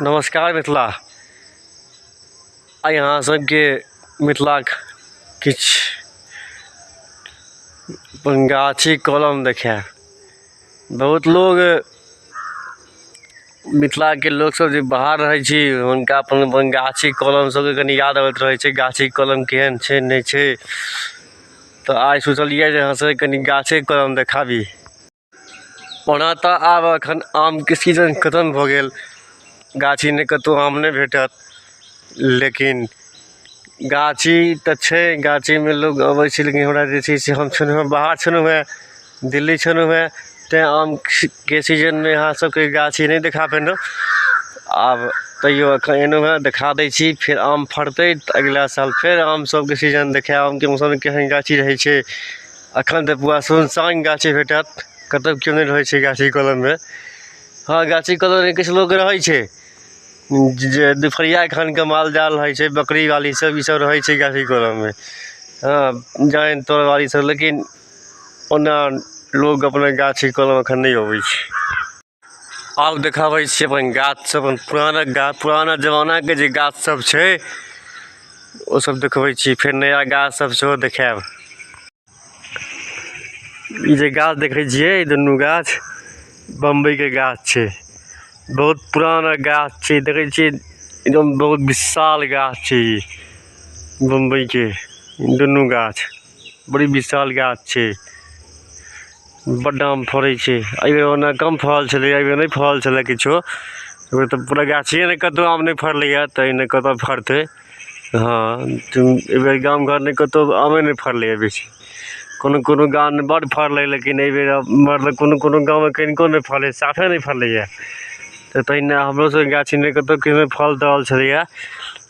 नमस्कार मिथिला आइ अहाँ सबके मिथिलाक किछु गाछी कलम देखे बहुत लोग मिथिलाके लोकसब जे बाहर रहै छी हुनका अपन अपन गाछी कलम सबके कनि याद अबैत रहै छै गाछी कलम केहन छै नहि छै तऽ आइ सोचलिए जे अहाँ सबके कनि गाछे कलम देखाबी ओना तऽ आब एखन आमके सीजन खतम भऽ गेल गाछी नहि कतौ आम नहि भेटत लेकिन गाछी तऽ छै गाछीमे लोग अबै छै लेकिन हमरा जे छै से हम छलहुँ बाहर छलहुँ हेँ दिल्ली छलहुँ हेँ तैं आमके सीजनमे अहाँ सबके गाछी नहि देखा पेलहुँ आब तैयो एखन एलहुँ हेँ देखा दै छी फेर आम फड़तै तऽ अगिला साल फेर आम सबके सीजन देखायब आमके मौसममे केहन गाछी रहै छै एखन तऽ पूरा सुनसान गाछी भेटत कतौ केओ नहि रहै छै गाछी कलममे हँ गाछी कलममे किछु लोक रहै छै जे दुपहरिया खनके माल जाल रहै छै बकरी बाली सब ई सब रहै छै गाछी कलममे हँ जानि तानि बाली सब लेकिन ओना लोग अपना गाछी कलम एखन नहि अबै छै आब देखाबै छी अपन गाछ सब अपन पुराना गाछ पुराना जमाना के जे गाछ सब छै ओ सब देखबै छी फेर नया गाछ सब सेहो देखायब ई जे गाछ देखै छियै ई दुनू गाछ बम्बई के गाछ छै बहुत पुराना गाछ छै देखै छियै एकदम बहुत विशाल गाछ छै ई बम्बई के दुनू गाछ बड़ी विशाल गाछ छै बड्ड आम फड़ै छै एहि बेर ओना कम फड़ल छलै एहि बेर नहि फड़ल छलै किछो एहि बेर तऽ पूरा गाछिए नहि कतहु आम नहि फड़लैए तऽ एहिमे कतऽ फड़तै हँ एहि बेर गाम घर नहि कतहु आमे नहि फड़लैए बेसी कोनो कोनो गाममे बड्ड फड़लै लेकिन एहि बेर मतलब कोनो कोनो गाममे कनिको नहि फड़लै साफे नहि फड़लैए तऽ तहिना हमरो सबके गाछीमे कतहु किछु फल तल छलैए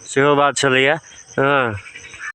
सेहो बात छलैए हँ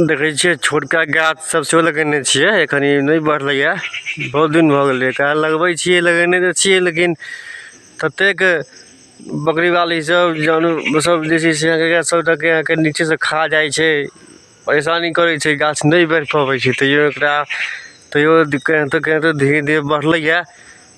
देखै छियै छोटका गाछ सब सेहो लगेने छियै एखन ई नहि बढ़लैए बहुत दिन भऽ गेलै एकरा लगबै छियै लगेने तऽ छियै लेकिन ततेक बकरी बाली सब जानू सब जे छै से अहाँके सबटाके अहाँके नीचे से खा जाइ छै परेशानी करै छै गाछ नहि बढ़ि पबै छै तैयो एकरा तैयो केनाहितो केनाहितो धीरे धीरे बढ़लैए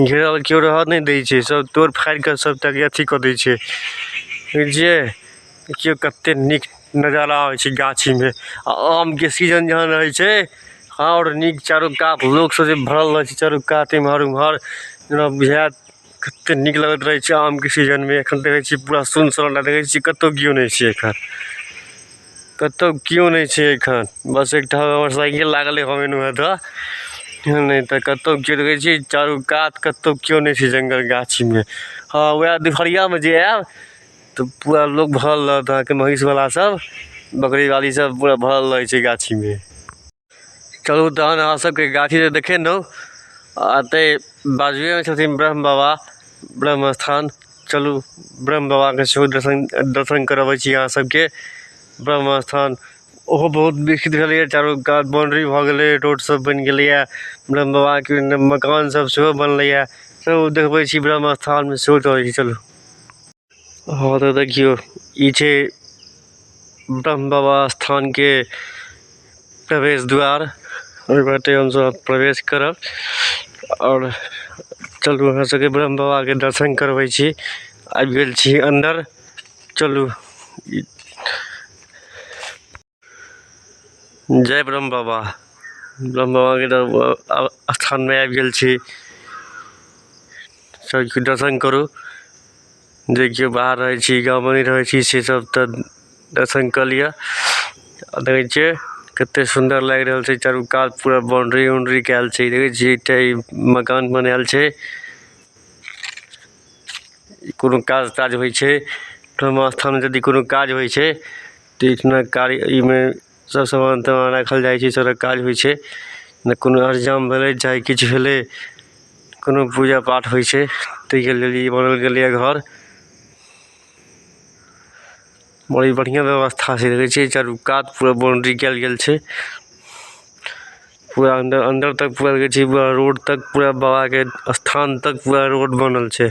घेरल केओ रहऽ नहि दै छै सब तोड़ि फाड़ि कऽ सबटा के अथी कऽ दै छै बुझलियै देखियौ कते नीक नजारा होइ छै गाछी मे आ आम के सीजन जहन रहै छै आओर नीक चारू कात लोक सब जे भरल रहै छै चारू कात एमहर ओमहर जेना बुझाएत कते नीक लगैत रहै छै आम के सीजन मे एखन देखै छियै पूरा सुनसान देखै छियै कतौ केओ नहि छै एखन कतौ केओ नहि छै एखन बस एकटा हमर साइकिल लागल अछि हम एलहुॅं हैं तऽ नहि तऽ कतौ केओ देखै छियै चारू कात कतौ केओ नहि छै जंगल गाछी मे हँ वएह दुपहरिया मे जे आयब तऽ पूरा लोक भरल रहत अहाँके महिष बला सब बकरी बाली सब पूरा भरल रहै छै गाछी मे चलू तहन अहाँ सबके गाछी तऽ देखेलहुँ आ एतै बाजुएमे छथिन ब्रह्म बाबा ब्रह्म स्थान चलू ब्रह्म बाबाके सेहो दर्शन दर्शन करबै छी अहाँ सबके ब्रह्म स्थान ओहो बहुत विकसित भेलैए चारू कात बाउण्ड्री भऽ गेलै रोड सब बनि गेलैए ब्रह्म बाबाके मकान सब सेहो बनलैए चलू देखबै छी ब्रह्म स्थानमे सेहो चलै छी चलू हँ तऽ देखियौ ई छै ब्रह्म बाबा स्थानके प्रवेश द्वार ओहि बाटे हमसभ प्रवेश करब आओर चलू अहाँ सभके ब्रह्म बाबाके दर्शन करबै छी आबि गेल छी अन्दर चलू ई जय ब्रह्म बाबा ब्रह्म बाबाके दर- स्थानमे आबि गेल छी सबके दर्शन करू जे केओ बाहर रहै छी गाँवमे नहि रहै छी से सब तऽ दर्शन कऽ लिअ आ देखै छियै कतेक सुन्दर लागि रहल छै चारू कात पूरा बाउंड्री उंड्री कयल छै देखै छियै एकटा ई मकान बनायल छै कोनो काज ताज होइ छै ब्रह्म स्थानमे यदि कोनो काज होइ छै ट्रेक्शनक कार्य एहिमे सभ सामान तामान राखल जाइ छै सड़क काज होइ छै नहि कोनो अर जाम भेलै चाहे किछु भेलै कोनो पूजा पाठ होइ छै ताहिके लेल ई बनाओल गेलैए घर बड़ी बढ़िआँ व्यवस्था छै देखै छियै चारू कात पूरा बाउंड्री कयल गेल छै पूरा अन्दर अन्दर तक पूरा देखै छियै पूरा रोड तक पूरा बाबाके स्थान तक पूरा रोड बनल छै